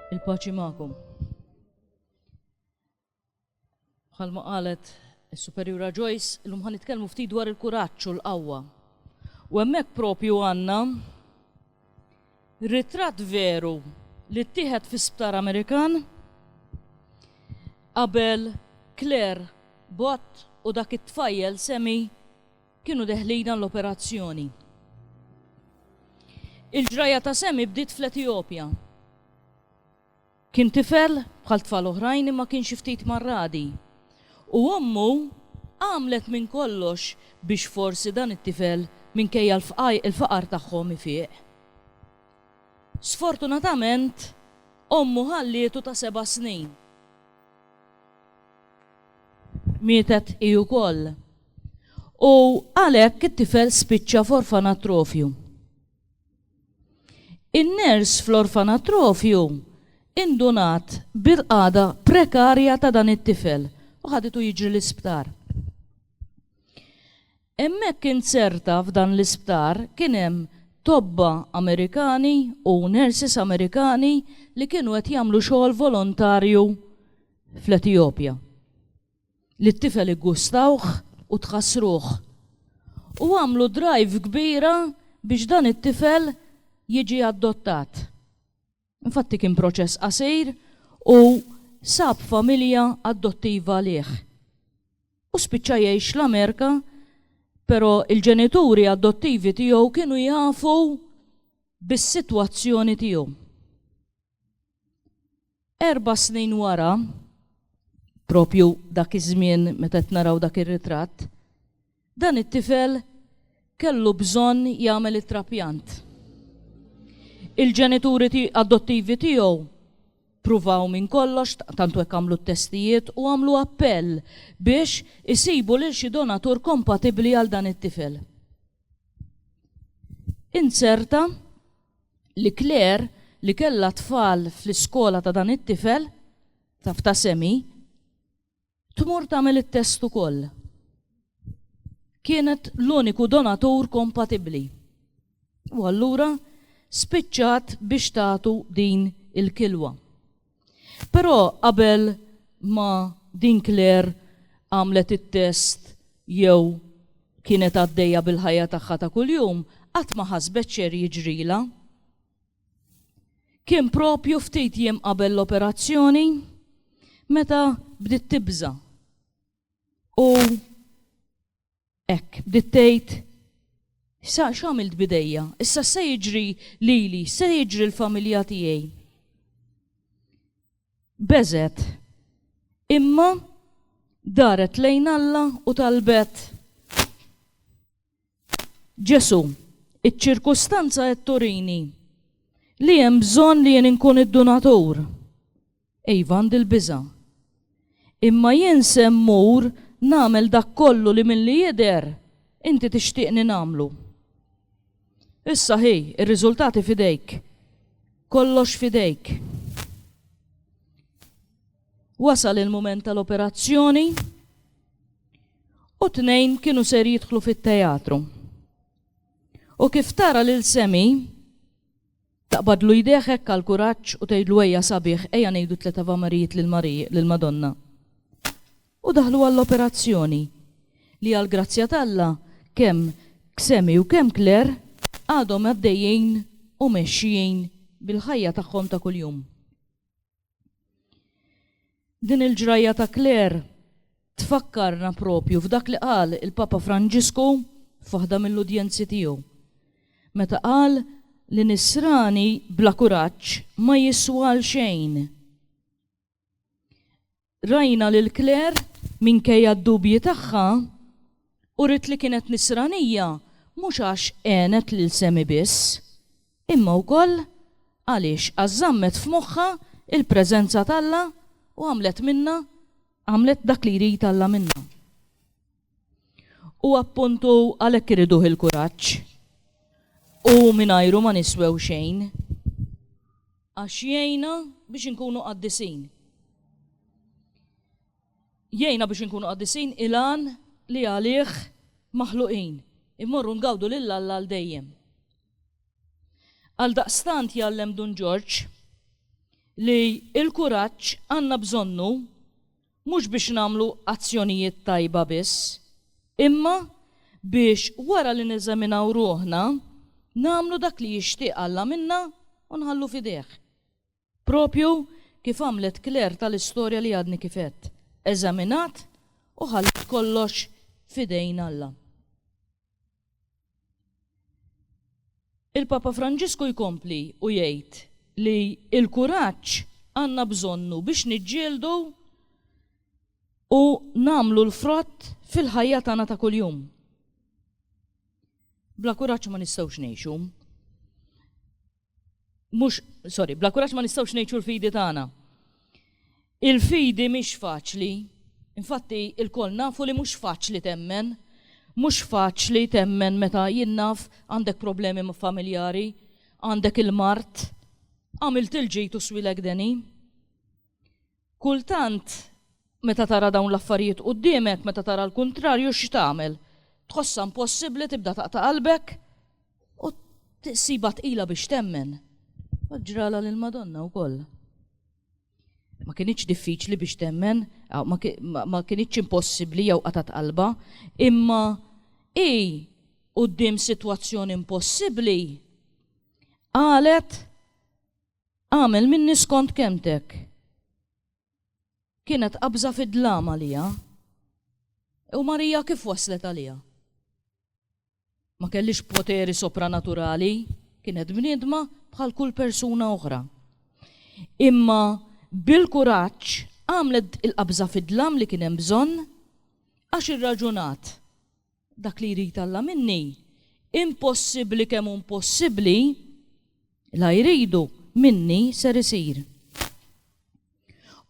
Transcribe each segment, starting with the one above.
Il-paċi magħkom. Bħalma qalet is-Superjura Joyce, illum ħan nitkellmu ftit dwar il-kuraġġ u l-qawwa. U hemmhekk propju għandna ritratt veru li ttieħed fi sptar Amerikan qabel Claire Bott u dak it-tfajjel semi Kienu deħlina l-operazzjoni. Il-ġrajja ta' Sammy bdiet fl-Etijopja. Kien tifel bħal tfal oħrajn imma kien xi ftit mar-ragħdi. U ommu għamlet minn kollox biex forsi dan it-tifel minkejja l-faqar tagħhom ifieq. Sfortunatament ommu ħallietu ta' seba' snin. Mietet hi wkoll. U għalhekk it-tifel spiċċa f'orfanatrofju. In-nurse fl-orfanatrofju indunat bil-qagħda prekarja ta' dan it-tifel u ħaditu jiġri l-isptar. Hemmhekk inzerta f'dan l-isptar kien hemm tobba Amerikani u nurses Amerikani li kienu qed jagħmlu xogħol volontarju fl-Etijopja. li t-tifel iggustawh u tħassruh. U għamlu drive kbira biex dan it-tifel jiġi addottat. Infatti kien proċess qasir u sab familja addottiva għalih. U spiċċa jgħix l-Amerika, però il-ġenituri addottivi tiegħu kienu jafu bis-sitwazzjoni tiegħu. Erba' snin wara, propju dak iż-żmien meta qed naraw dak ir-ritratt, dan it-tifel kellu bżonn jagħmel it-trapjant. Il-ġenituri adottivi tiegħu pruvaw minn kollox, tantu hekk għamlu t-testijiet u għamlu appell biex isibu lil xi donatur kompatibbli għal dan it-tifel. Inzerta li Claire li kellha tfal fl-iskola ta' dan it-tifel, taf ta' Semi, tmur tagħmel it-test ukoll. Kienet l-uniku donatur kompatibbli. U allura spiċċat biex tagħtu din il-kilwa. Però qabel ma din Claire għamlet it-test jew kienet għaddejja bil-ħajja tagħha ta' kuljum, qatt ma ħasbet x'ser jiġrilha. Kien proprju ftit jiem qabel l-operazzjoni meta bdiet tibża' u Hekk, bdiet tgħid, Sa x'għamilt b'idejja? Issa x'se jiġri lili? X'se jiġri l-familja tiegħi? Beżgħet. Imma daret lejn Alla u talbet, Ġesù, iċ-ċirkustanza qed turini li hemm bżonn li jien inkun id-dunatur. Iva, għandi l-biża'. Imma jien se mmur nagħmel dak kollu li milli jidher inti tixtieqni nagħmlu. Issa hi, ir-riżultati f'idejk. Kollox f'idejk. Wasal il-mument tal-operazzjoni u tnejn kienu ser jidħlu fit-teatru. U kif tara lil Semi, Taqbadlu jdejh hekk għall-kuraġġ u tgħidlu ejja sabiħ ejja ngħidu tliet avamarijiet lill-Madonna. U daħlu għall-operazzjoni, li għall-grazzja t'Alla kemm Xemi u kemm Claire għadhom għaddejjin u mexjin bil-ħajja tagħhom ta' kuljum. Din il-ġrajja ta' Clare tfakkarna proprju f'dak li qal il-Papa Franġisku f'waħda mill-udjenzi tiegħu, meta qal li nisrani bla kuraġġ ma jiswa għal xejn. Rajna lil Clare, minkejja d-dubji tagħha, Uriet li kienet Nisranija mhux għax għenet lil Sammy biss, imma wkoll għaliex għax żammet f'moħħha l-preżenza t'Alla u għamlet minnha għamlet dak li jrid Alla minnha. U appuntu għalhekk iriduh il-kuraġġ. Hu mingħajru ma niswew xejn. Għax jgħinna biex inkunu qaddisin. Jgħinna biex inkunu qaddisin, il-għan li għalih maħluqin, immorru ngawdu lil Alla għal dejjem. Għaldaqstant jgħallem Dun Ġorġ li l-kuraġġ għandna bżonnu mhux biex nagħmlu azzjonijiet tajba biss, imma biex wara li neżaminaw ruħna nagħmlu dak li jixtieq Alla minna u nħallu f'idejh. Proprju kif għamlet Claire tal-istorja li għadni kif għedt, eżaminat u ħalliet kollox f'idejn Alla. Il-Papa Franġisku jkompli u jgħid li l-kuraġġ għandna bżonnu biex niġġieldu u nagħmlu l-frott fil-ħajja tagħna ta' kuljum. Bla kuraġġ ma nistgħux ngħixu. Mhux, sorry, bla kuraġġ ma nistgħux ngħixu l-fidi tagħna. Il-fidi mhix faċli. Infatti, il-kol nafu li mhux faċli temmen. Mhux faċli temmen meta jinnaf għandek problemi familjari, għandek il-mart, għamilt il-ġejtu swilek deni. Kultant, meta tara dawn l-affarijiet quddiemek, meta tara l-kuntrarju, x'tagħmel? Tħossha impossibbli, tibda taqta' qalbek u tissibha tqila biex temmen. Hekk ġralha lill-Madonna wkoll. Ma kinitx diffiċli biex temmen, ma kinitx impossibbli jew qatgħet qalbha, imma hi quddiem sitwazzjoni impossibbli qalet Agħmel minni skont kelmtek. Kienet qabża fid-dlam għalija. U Marija kif waslet għalija? Ma kellix poteri sopranaturali, kienet bniedma bħal kull persuna oħra. Imma bil-kuraġġ għamlet il-qabża fid-dlam li kien hemm bżonn għax irraġunat. Dak li jrid Alla minni, impossibbli kemm hu impossibbli, la jridu, minni ser isir.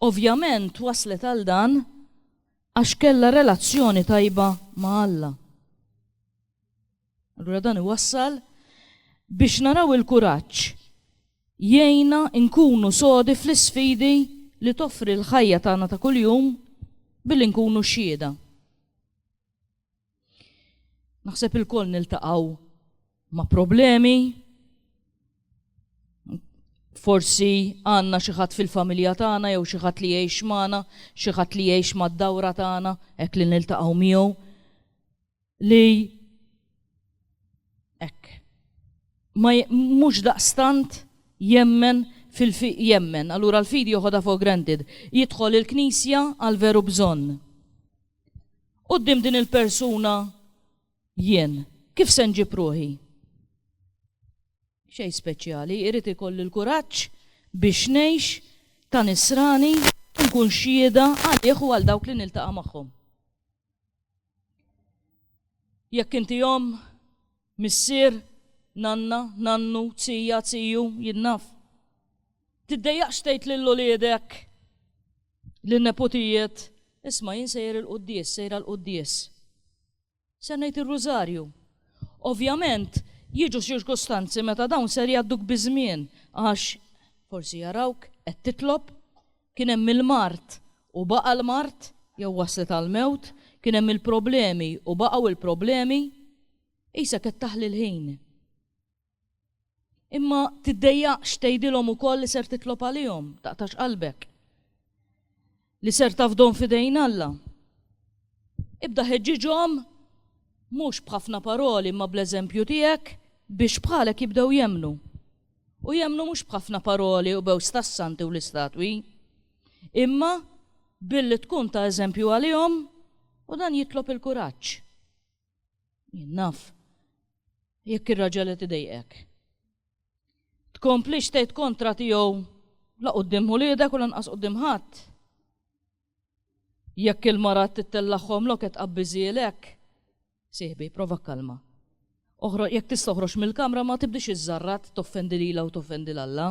Ovvjament waslet għal dan għax kellha relazzjoni tajba ma' Alla. Allura dan iwassal biex naraw il-kuraġġ jgħinna nkunu sodi fl-isfidi li toffri l-ħajja tagħna ta' kuljum billi nkunu xhieda. Naħseb il-koll niltaqaw ma' problemi, forsi għanna xieħat fil-familja tagħna jew xieħat li jgħix magħna, xieħat li jgħix mad-dawra tagħna, hekk li niltaqgħu miegħu li hekk. Ma mhux daqstant jemmen fil-fiq jemmen, allura l-fidi joħodha for granted. Jidħol il-knisja għal veru bżonn. Quddiem din il-persuna jien, kif se nġib ruħi? Xej speċjali, irrid ikolli l-kuraġġ biex ngħix ta' nisrani nkun xieda għalih u għal dawk li niltaqa' magħhom. Jekk inti jom Missier, nanna, nannu, zija, ziju, jien naf. Tiddejjaqx tgħid lil uliedek, lin-neputijiet, isma' jien sejjer il-quddies, sejra l-quddies. Ser ngħid ir-rużarju. Ovvjament, jiġu ċirkustanzi meta dawn ser jgħadduk biż-żmien għax forsi jarawk qed titlob, Kien hemm il-mard u baqa' l-mard, jew waslet għall-mewt, kien hemm il-problemi u baqgħu l-problemi. Qisha qed taħli l-ħin. Imma tiddejjaqx tgħidilhom ukoll li ser titlob għalihom, taqtax qalbek. Li ser tafdhom f'idejn Alla. Ibda ħeġġiġhom mhux b'ħafna paroli imma bl-eżempju tiegħek biex bħalek jibdew jemmnu. u jemmnu mhux b'ħafna paroli u b'għewż tas-santi u l-istatwi, imma billi tkun ta' eżempju għalihom u dan jitlob il-kuraġġ. Jien naf, jekk ir-raġel qed idejqek. Tkomplix tgħid kontra tiegħu la quddiem ħuliedek u lanqas quddiem ħadd. Jekk il-mara qed tittellagħhom lok qed tqabbiżhielek, sieħbi, prova kkalmha. Oħro, jekk tista' oħroġ mill-kamra ma tibdix iżżarrat toffendi lilha u toffendi 'l Alla.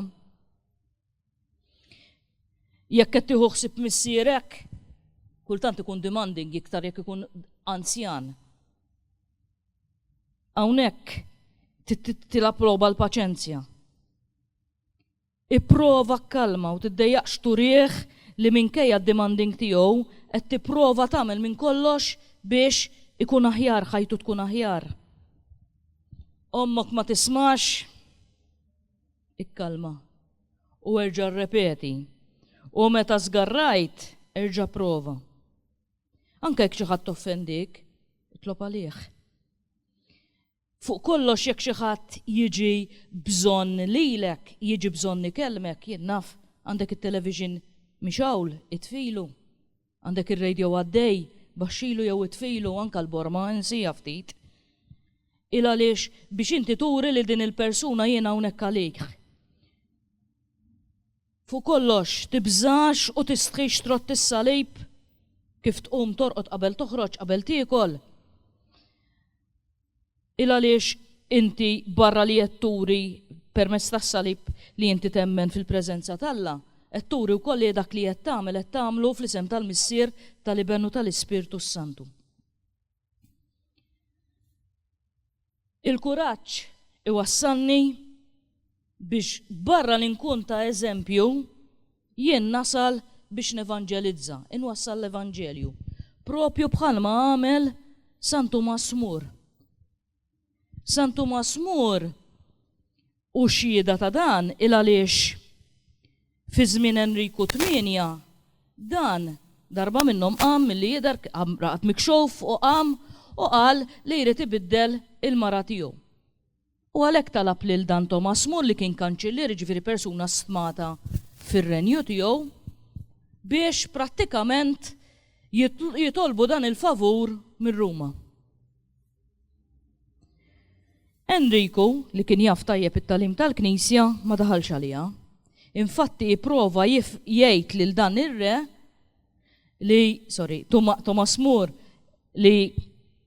Jekk qed tieħu ħsieb missierek, kultant ikun demanding iktar jekk ikun anzjan. Hawnhekk tilha proba l-paċenzja. Ipprova kkalma u tiddejjaqx turih li minkejja d-demanding tiegħu qed tipprova tagħmel minn kollox biex ikun aħjar, ħajtu tkun aħjar. Ommok ma tismax? Ikkalmha u erġa' rrepeti, u meta żgarrajt erġa' pprova. Anke jekk xi ħadd offendik, itlob għalih. Fuq kollox jekk xi ħadd jiġi bżonn lilek, jiġi bżonn ikellmek, jien naf, għandek it-television mixgħul, itfilu. Għandek ir-radio għaddej, baxxilu jew itfilu, anke l-borma, insieha ftit. Il għaliex biex inti turi lil din il-persuna jiena hawnhekk għalik. Fuq kollox, tibżax u tistħix trotti s-salib, kif tqum torqod qabel toħroġ, qabel tiekol. Il għaliex inti barra li qed turi permezz tas-salib li inti temmen fil-preżenza t'Alla, qed turi wkoll li dak li qed tagħmel qed tagħmlu fl-isem tal-Missier, tal-Iben u tal-Ispirtu s-Santu. Il-kuraġġ iwassalni biex barra li nkun ta' eżempju, jien nasal biex nevanġelizza, inwassal l-evanġelju, propju bħalma għamel San Tumas Mur. San Tumas Mor hu xhieda ta' dan il-għaliex fi żmien Enriku Tmienja dan darba minnhom qam milli jidher qam raqad mikxuf u qam u qal li jrid ibiddel il-mara tiegħu. U għalhekk talab lil dan Tomas Mor li kien kanċillier jiġifieri persuna stmata fir-renju tiegħu biex prattikament jitolbu dan il-favur minn Ruma. Enriku, li kien jaf tajjeb it-tagħlim tal-Knisja, ma daħalx għaliha. Infatti ipprova jgħid lil dan ir-re li, sorry, Tomas Moore li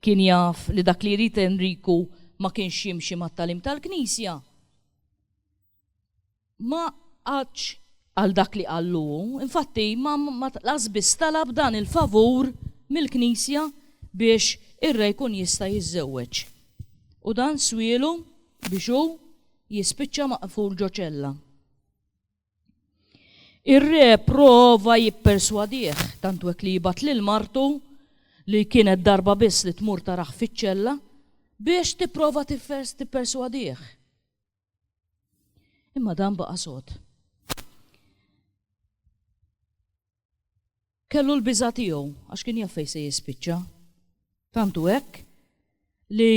kien jaf li dak li jrid Enriku ma kienx jimxi mat-tagħlim tal-Knisja, ma qagħadx għal dak li qallu hu, infatti ma lanqas biss talab dan il-favur mill-Knisja biex ir-re jkun jista' jiżżewweġ. U dan swielu biex hu jispiċċa maqful ġo ċella. Ir-re prova jipperswadih tant hekk li jibgħat lil martu li kienet darba biss li tmur tarah fiċ-ċella biex tipprova tipperswadih. Imma dan baqa' sod. Kellu l-biża' tiegħu għax kien jaf fejn se jispiċċa. Tantu hekk li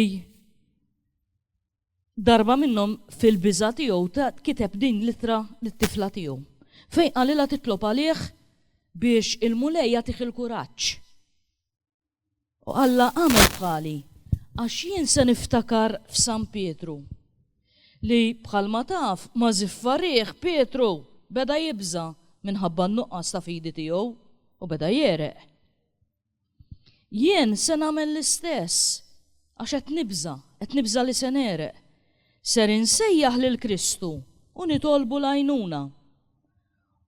darba minnhom fil-biża' tiegħu kiteb din litra lit-tifla tiegħu. Fejn qalilha titlob għalih biex il-Mulej jagħtih il-kuraġġ U Alla għamel bħali, għax jien se niftakar f'San Pietru. Li bħalma taf ma' ziffa riħ Pietru beda jibża' minħabba n-nuqqas ta' fidi tiegħu u beda jegħreq. Jien se nagħmel l-istess għax qed nibża', qed nibża' li se negħreq. Ser insejjaħ lil Kristu u nitolbu l-għajnuna.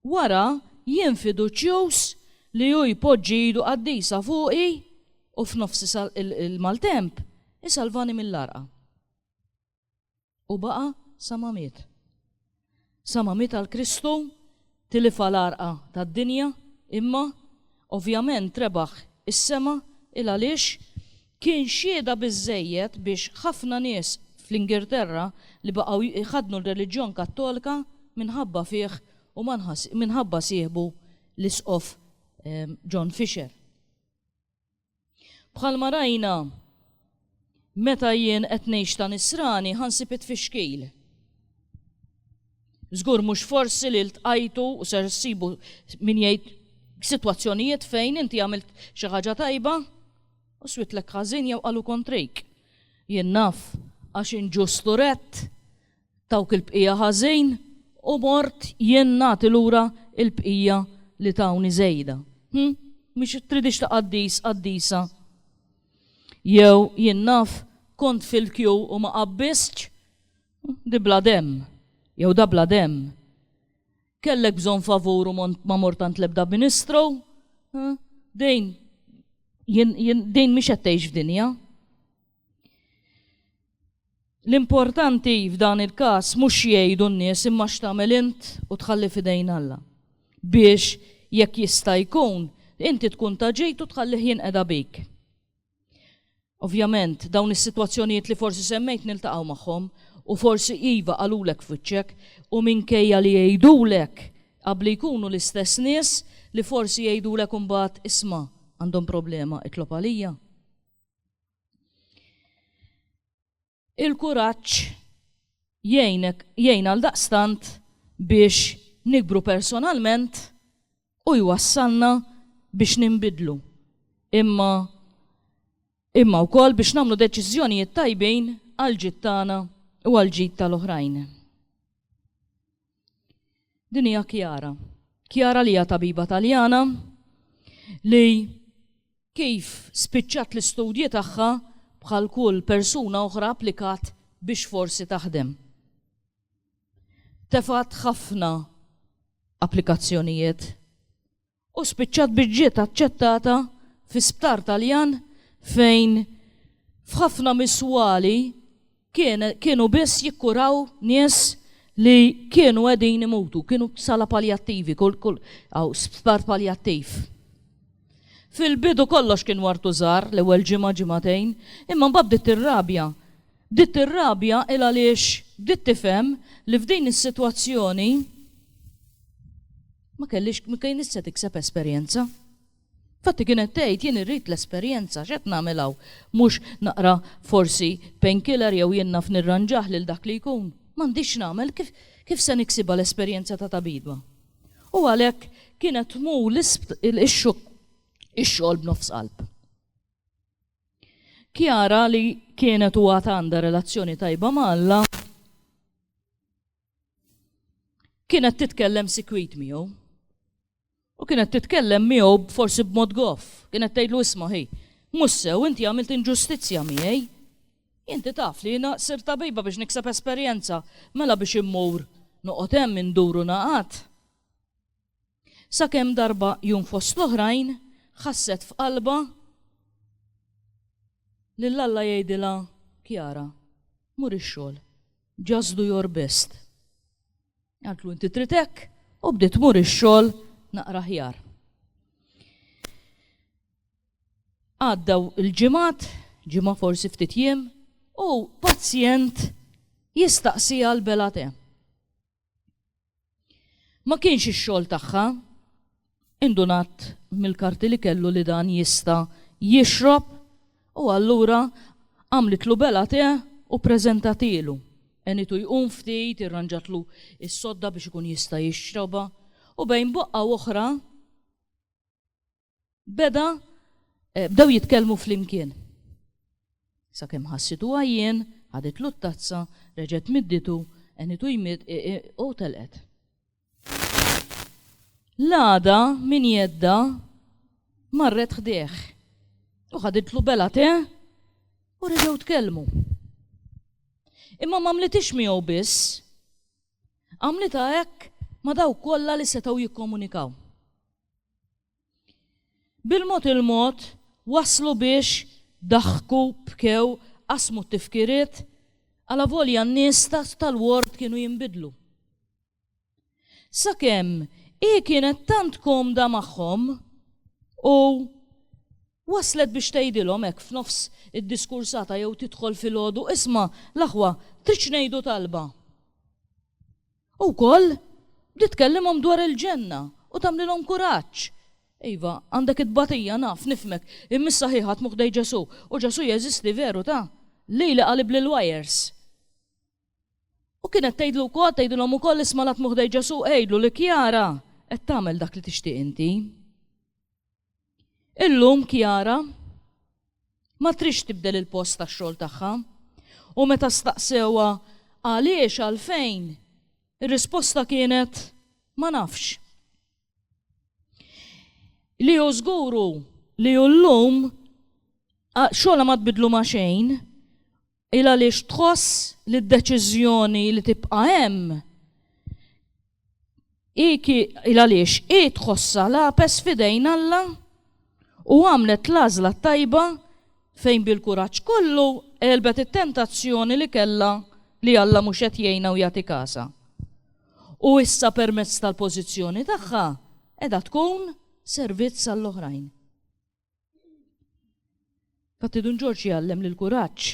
Wara jien fiduċjuż li hu jpoġġi idu qaddisa fuqi u f'nofs il-maltemp isalvani mill-għarqa. U baqa' sa ma miet. Sa ma miet għal Kristu, tilifha l-għarqa tad-dinja, imma, ovvjament rebaħ is-sema, il għaliex? Kien xhieda biżżejjed biex ħafna nies fl-Ingilterra li baqgħu jħaddnu r-reliġjon Kattolka minħabba fih u minħabba sieħbu l-Isqof John Fisher. Bħalma rajna, meta jien qed ngħix ta' Nisrani, ħa nsib it-tfixkil. Żgur mhux forsi li ltqajtu u ser ssibu min jgħid sitwazzjonijiet fejn inti għamilt xi ħaġa tajba u switlek ħażin jew qalu kontrejk. Jien naf għax inġustu redt tawk il-bqija ħażin u mort jien nagħti lura l-bqija li tawni żejda. Hm, mhix tridix ta' qaddis, qaddisa. Jew jien naf kont fil-kju u ma qabbistx Di bla demm, jew da bla demm. Kellek bżonn favur u ma mort għand l-ebda ministru. Din, din mhix qed tgħix f'dinja. L-importanti f'dan il-każ mhux jgħidu n-nies imma x'tagħmel int u tħalli f'idejn Alla. Biex jekk jista' jkun, inti tkun ta' ġid u tħallih jinqeda bik. Ovvjament, dawn is-sitwazzjonijiet li forsi semmejt niltaqgħu magħhom u forsi iva qalulek f'wiċċek u minkejja li jgħidulek qabl li jkunu l-istess nies li forsi jgħidulek imbagħad isma' għandhom problema itlob għalija. Il-kuraġġ jgħinek jgħin għaldaqstant biex nikbru personalment u jwassalna biex ninbidlu, imma imma wkoll biex nagħmlu deċiżjonijiet tajbin għall-ġid tagħna u għall-ġid tal-oħrajn. Din hija Chiara. Chiara li hija tabiba Taljana li kif spiċċat l-istudji tagħha bħal kull persuna oħra applikat biex forsi taħdem. Tefgħet ħafna applikazzjonijiet u spiċċat biex ġiet aċċettata fi sptar Taljan fejn f'ħafna miswali kienu biss jikkuraw nies li kienu qegħdin imutu, kienu sala paljattivi, kull kull għaw sptar paljattiv. Fil-bidu kollox kien wartu żar l-ewwel ġimgħa ġimagħtejn, imma mbagħad bdiet ir-rabja. Bdiet ir-rabja il għaliex bdiet tifhem li f'din is-sitwazzjoni ma kellix, ma kienx se tikseb esperjenza. Fatti kienet tgħid jien irrid l-esperjenza, x'qed nagħmel hawn? Mhux naqra forsi painkiller jew jien naf nirranġah lil dak li jkun? M'għandix x'nagħmel, kif, kif se niksibha l-esperjenza ta' tabiba? U għalhekk kienet tmur ix-xogħol b'nofs qalb. Chiara li kienet u għad għandha relazzjoni tajba ma' Alla, kienet titkellem sikwit miegħu. U kienet titkellem miegħu forsi b'mod goff, kienet tgħidlu isma' ħi, mhux sew inti għamilt inġustizzja miegħi. Inti taf li jiena sir tabiba biex nikseb esperjenza, mela biex immur noqgħod hemm induru naqat. Sakemm darba jum fost l-oħrajn ħasset f'qalbha lil Alla jgħidilha, Chiara, mur ix-xogħol. Just do your best. Qaltlu inti trid hekk u bdiet tmur ix-xogħol naqra aħjar. Għaddew il-ġimgħat, ġimgħa forsi ftit jiem, u pazjent jistaqsija l-belate. Ma kienx ix-xogħol tagħha. Indunat mill-karti li kellu li dan jista' jixrob u allura għamlitlu belgħa te u ppreżentatielu. Għenitu jqum ftit, irranġatlu s-sodda biex ikun jista' jixrobha u bejn boqqa u oħra, beda eh, bdew jitkellmu flimkien. Sakemm ħassitu għajjien, ħadet l tazza reġgħet midditu, għenitu jmid e, e, u telqet. L-għada min jedda marret ħdeħ u ħaditlu bela te u reġgħu tkellmu. Imma ma mlitix miegħu biss, għamlita hekk ma daw kollha li setgħu jikkomunikaw. Bil-mod il-mod, waslu biex daħku, bkew, qasmu t-tifkiriet, alavolja n-nies tal-ward kienu jinbidlu. Sakemm hi kienet tant komda magħhom u waslet biex tgħidilhom hekk f'nofs id-diskursata jew tidħol filgħodu, Isma', l-aħwa, tridx ngħidu talba? U wkoll bdiet tkellimhom dwar il-ġenna u tagħmlilhom kuraġġ. Iva, għandek it-tbatija, naf, nifhmek, imma issa ħi ħadmu ħdejn Ġesù, u Ġesù jeżisti veru, ta. Li li qalibli l-wires. U kienet tgħidlu wkoll, tgħidilhom ukoll isma' l-għatmu ħdejn Ġesù, għidlu li Chiara qed tagħmel dak li tixtieq inti. Illum Chiara ma tridx tibdel il-post tax-xogħol tagħha u meta staqsewha għaliex għalfejn, ir-risposta kienet ma nafx. Li hu żgur hu li llum xogħolha ma tbiddlu ma' xejn Il għaliex tħoss li d-deċiżjoni li tibqa' hemm hi il għaliex hi tħossha lapes f'idejn Alla u għamlet l-għażla t-tajba fejn bil-kuraġġ kollu għelbet it-tentazzjoni li kellha li Alla mhux qed jgħinha u jagħti kasha. U issa permezz tal-pożizzjoni tagħha qiegħda tkun servizz għall-oħrajn. Fatti Dun Ġorġ jgħallem li l-kuraġġ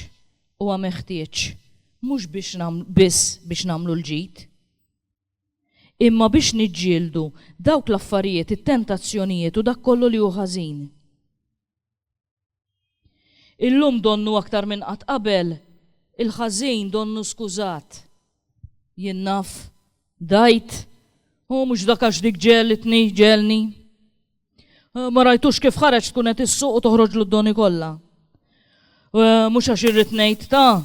huwa meħtieġ mhux biex biss biex nagħmlu l-ġid, imma biex niġġieldu dawk l-affarijiet, it-tentazzjonijiet u dak kollu li hu ħażin. Illum donnu aktar minn qatt qabel il-ħażin donnu skużat. Jien naf, dgħid, u mhux dak għax dik ġelitni, ġelni. Eh, ma rajtux kif ħareġ tkun qed issuq u toħroġ l-doni kollha. Eh, mhux għax irrid ngħid ta'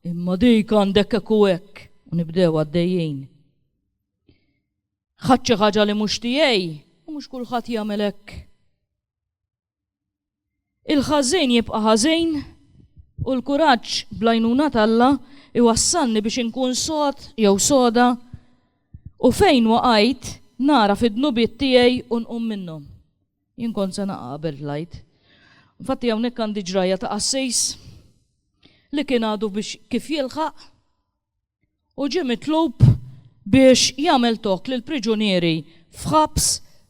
imma dik għandek hekk u hekk u nibdew għaddejjin. Ħadd xi ħaġa li mhux tiegħi u mhux kulħadd jagħmel hekk. Il-ħażejn jibqa' ħażejn u l-kuraġġ bl-għajnuna t'Alla iwassalni biex inkun sod jew soda u fejn waqajt nagħraf id-dnubiet tiegħi u nqum minnhom. Jien kont se naqa' qabel tlajt. Infatti hawnhekk għandi ġrajja ta' qassejs li kien għadu biex kif jilħaq u ġie mitlub biex jagħmel tokk lill-priġunieri f'ħabs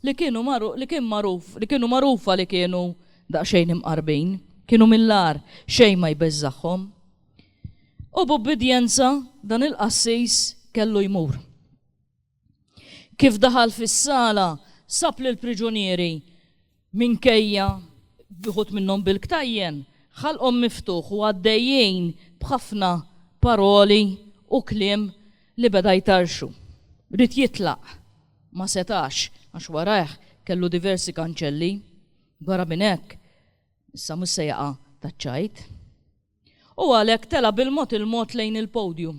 li kienu li kien magħruf li kienu magħrufa li kienu daqsxejn imqarbin, kienu mill-agħar, xejn ma jbeżżagħhom. U b'ubbidjenza dan il-qassis kellu jmur. Kif daħal fis-sala, sab lill-priġunieri minkejja wħud minnhom bil-ktajjen, ħalqhom miftuħ u għaddejjin b'ħafna paroli u kliem li beda jtarrxu. Ried jitlaq, ma setax, għax warajh kellu diversi kanċelli. Barra minn hekk, issa mhux se jaqa' taċ-ċajt. U għalhekk tela' bil-mod il-mod lejn il-podium.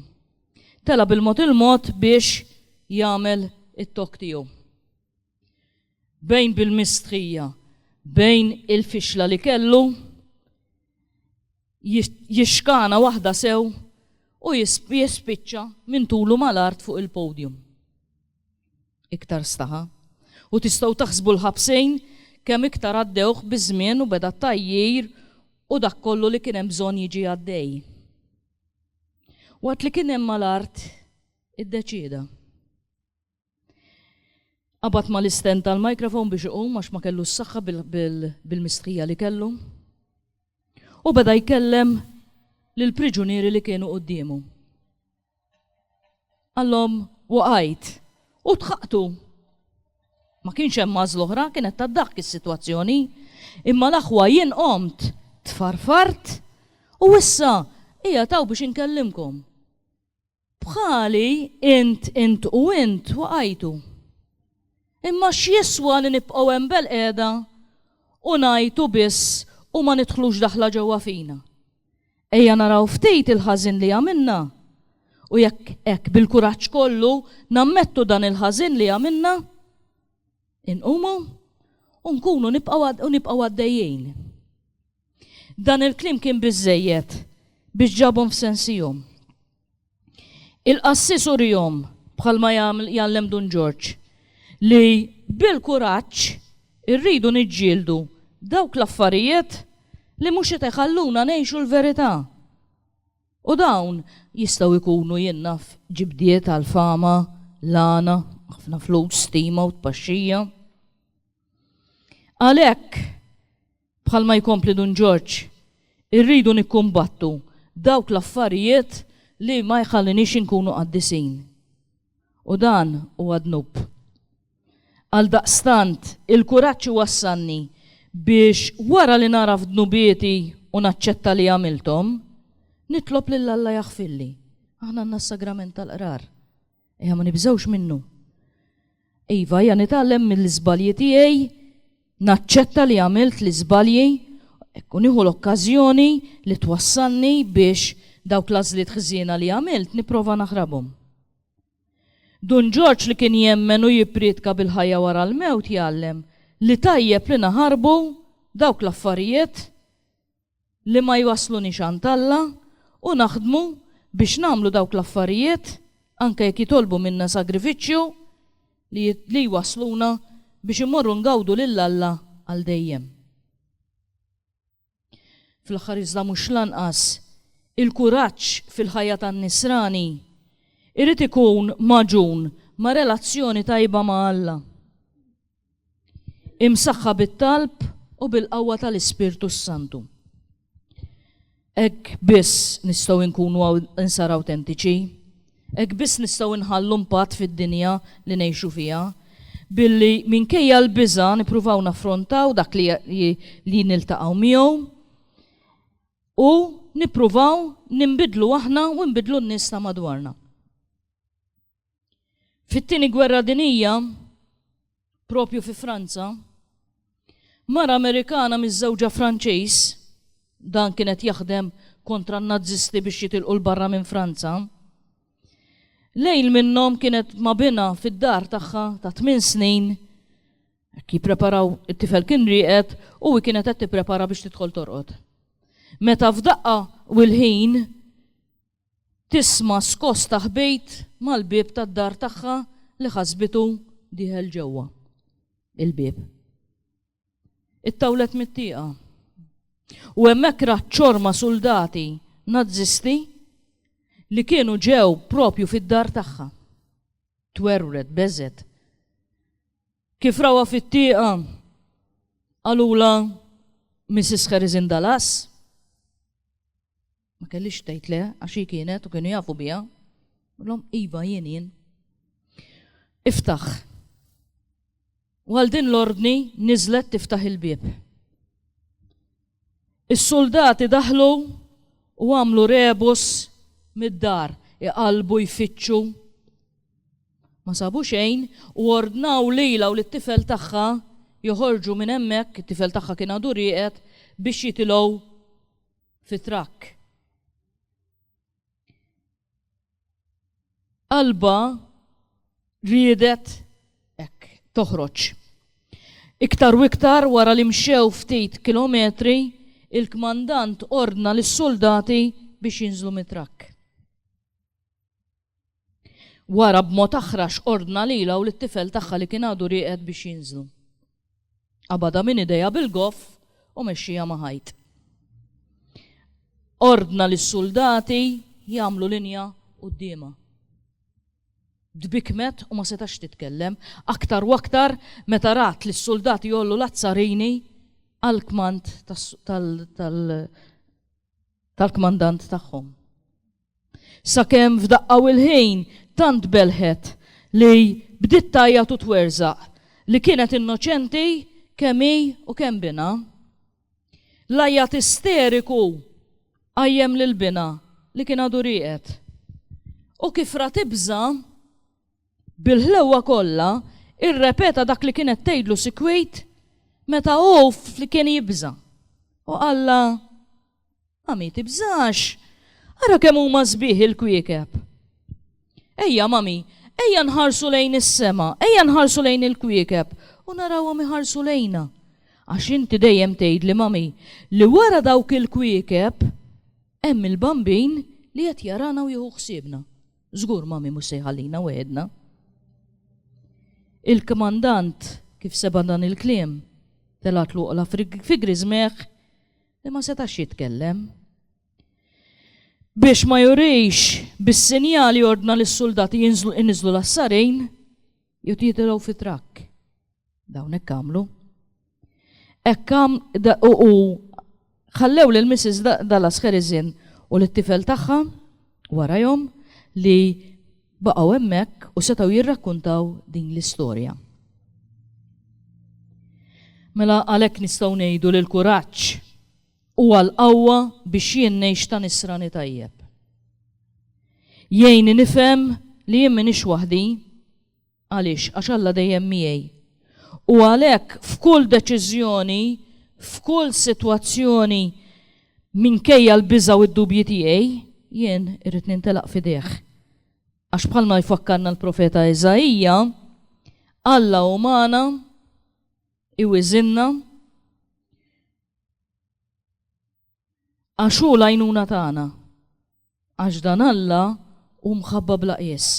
Tela' bil-mod il-mod biex jagħmel it-talk tiegħu. Bejn bil-mistħija, bejn il-fixla li kellu, jixkana waħda sew u jispiċċa minn tulu mal-art fuq il-podium. Iktar staħa. U tistgħu taħsbu l-ħabsejn kemm iktar għaddewh biż-żmien u beda t-tgħajjir u dak kollu li kien hemm bżonn jiġi għaddej. Waqt li kien hemm mal-art iddeċieda. Qabad mal-istand tal-microphone biex iqum għax ma kellu s-saħħa bil-mistħija li kellu. U beda jkellem lill-priġunieri li kienu quddiemu. Qallhom, Waqajt, u tħaqqtu. Ma kienx hemm għażla oħra, kienet tad-daħk is-sitwazzjoni. Imma l-aħwa jien qomt, tfarfart, u issa qiegħed hawn biex inkellimkom. Bħali int, int u int waqajtu. Imma x'jiswa li nibqgħu hemm belqiegħda u ngħajtu biss u ma nidħlux daħla ġewwa fina? Ejja naraw ftit il-ħażin li għamilna, u jekk hekk bil-kuraġġ kollu nammettu dan il-ħażin li għamilna, inqumu u nkunu u nibqgħu għaddejjin. Dan il-kliem kien biżżejjed biex ġabhom f'sensihom. Il-qassis urihom, bħalma jgħallem Dun Ġorġ, li bil-kuraġġ irridu niġġieldu dawk l-affarijiet li mhux qed iħalluna ngħixu l-verità. U dawn jistgħu jkunu, jien naf, ġibdiet għal fama, lagħna, ħafna flus, stima u tpaxxija. Għalhekk, Bħalma jkompli Dun Ġorġ, irridu nikkumbattu dawk l-affarijiet li ma jħalliniex inkunu qaddisin. U dan huwa dnub. Għaldaqstant, il-kuraġġ iwassalni biex wara li nagħraf dnubieti u naċċetta li għamilthom, nitlob lil Alla jaħfirli. Aħna għandna s-Sagrament tal-Qrar. Ejja ma nibżgħux minnu. Iva, hija nitgħallem mill-iżbalji tiegħi, naċċetta li għamilt l-iżbalji, ekku nieħu l-okkażjoni li twassalni biex dawk l-għażliet ħżiena li għamilt nipprova naħrabhom. Dun Ġorġ li kien jemmen u jipprietka bil-ħajja wara l-mewt jgħallem li tajjeb li naħarbu dawk l-affarijiet li ma jwassluniex għand Alla u naħdmu biex nagħmlu dawk l-affarijiet, anke jekk jitolbu minna sagrifiċċju, li li jwassluna biex immorru ngawdu lil Alla għal dejjem. Fl-aħħar iżda mhux l-anqas, il-kuraġġ fil-ħajja tan-nisrani jrid ikun magħġun ma' relazzjoni tajba ma' Alla. Imsaħħa bit-talb u bil-qawwa tal-Ispirtu s-Santu. Hekk biss nistgħu nkunu insar awtentiċi, hekk biss nistgħu nħallu impatt fid-dinja li ngħixu fiha, billi minkejja l-biża' nippruvaw naffrontaw dak li, li niltaqgħu miegħu u nippruvaw nimbidlu aħna u nbidlu n-nies ta' madwarna. Fit-tieni gwerra dinija, propju fi Franza, mara Amerikana miżżewġa Franċiż, dan kien qed jaħdem kontra n-Nazisti biex jitilqu l-barra minn Franza. Lejl minnhom kienet ma' bina fid-dar tagħha ta' tmien snin Ki preparaw it-tifel kien rieqed u hi kienet qed tipprepara biex tidħol torqod. Meta f'daqqa u l-ħin Tisma' skosta ħbejt mal-bieb tad-dar tagħha li ħasbitu dieħel ġewwa l-bieb. Ittawlet mit-tieqa. U hemmhekk rat ċorma suldati Nazzisti li kienu ġew propju fid-dar tagħha. Twerwret, beżgħet. Kif rawha fit-tieqa, qalulha Mrs. Harris in Dallas. Ma kellix tgħid le għax hi kienet u kienu jafu biha. Qulhom iva jien jien. Iftaħ. U għal din l-ordni niżlet tiftaħ il-bieb. Is-suldati daħlu u għamlu rebus mid-dar iqalbu jfittxu. Ma sabu xejn u ordnaw lila u lit-tifel tagħha joħorġu minn hemmhekk, it-tifel tagħha kien għadu rieqed biex jitilgħu fi trakk. Alba riedet hekk toħroġ. Iktar u iktar wara li mxew ftit kilometri, il-kmandant ordna lis-soldati biex jinżlu mit-trakk. Wara b'mod aħrax ordna lilha u lit-tifel tagħha li kien għadu rieqed biex jinżlu. Qabadha minn idejha bil-goff u mexxieha ma' ħajt. Ordna lis-suldati jagħmlu linja quddiemha. Tbikkmet u ma setax titkellem, aktar u aktar meta rat lis-suldati jgħollu l-azzarini għall-kmand tal-kmandant tagħhom. Sakemm f'daqqa u l-ħin tant belħet li bdiet tgħajjat u twerżaq li kienet innoċenti kemm hi u kemm binha. L-għajjat isteriku qajjem lil binha li kien għadu rieqed. U kif ra tibża', bil-ħlewwa kollha irrepeta dak li kienet tgħidlu sikwit meta hu kien jibża' u qallha, Mami, tibżax! Ara kemm huma sbieħ il-kwiekeb! Ejja, mami, ejja nħarsu lejn is-sema, ejja nħarsu lejn il-kwiekeb u narawhom iħarsu lejna. Għax inti dejjem tgħidli, mami, li wara dawk il-kwiekeb hemm il-Bambin li qed jarana u jieħu ħsiebna. Żgur mami mhux se jħallina weħedna. Il-kmandant kif seba' dan il-kliem, telgħat l-oqla fi griżmeħ li ma setax jitkellem. Biex ma jurix bis-sinjali ordna lis suldati jinżlu l-assarin jew jitilgħu fi trakk. Dawn hekk għamlu. Hekk u ħallew lil Mrs. dal-askeriżin u lit-tifel tagħha warajhom li baqgħu hemmhekk u setgħu jirrakkuntaw din l-istorja. Mela għalhekk nistgħu ngħidu li l-kuraġġ huwa l-qawwa biex jien ngħix ta' nisrani tajjeb. Jgħinni nifhem li jien m'iniex waħdi Għaliex? Għax Alla dejjem miegħi. U għalhekk f'kull deċiżjoni, f'kull sitwazzjoni, minkejja l-biża' u d-dubji tiegħi, jien irrid nintelaq f'idejh. Għax bħalma jfakkarna l-profeta Iżaija, Alla hu magħna, iwiżinna, Għax hu l-għajnuna tagħna. Għax dan Alla hu mħabba bla qies.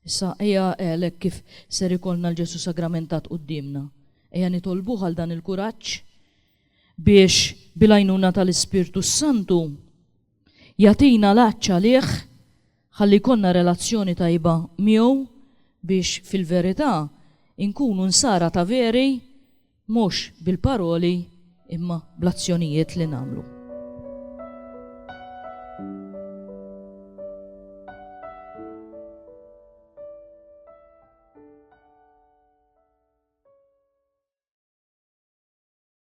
Issa ejja għel hekk kif ser ikollna l-Ġesu sagramentat quddiemna. Ejja nitolbuh għal dan il-kuraġġ biex bil-għajnuna tal-Ispirtu s-Santu jagħtina l-għatx għalih ħalli jkollna relazzjoni tajba miegħu biex fil-verità inkunu nsara ta' veri Mhux bil-paroli imma bl-azzjonijiet li nagħmlu.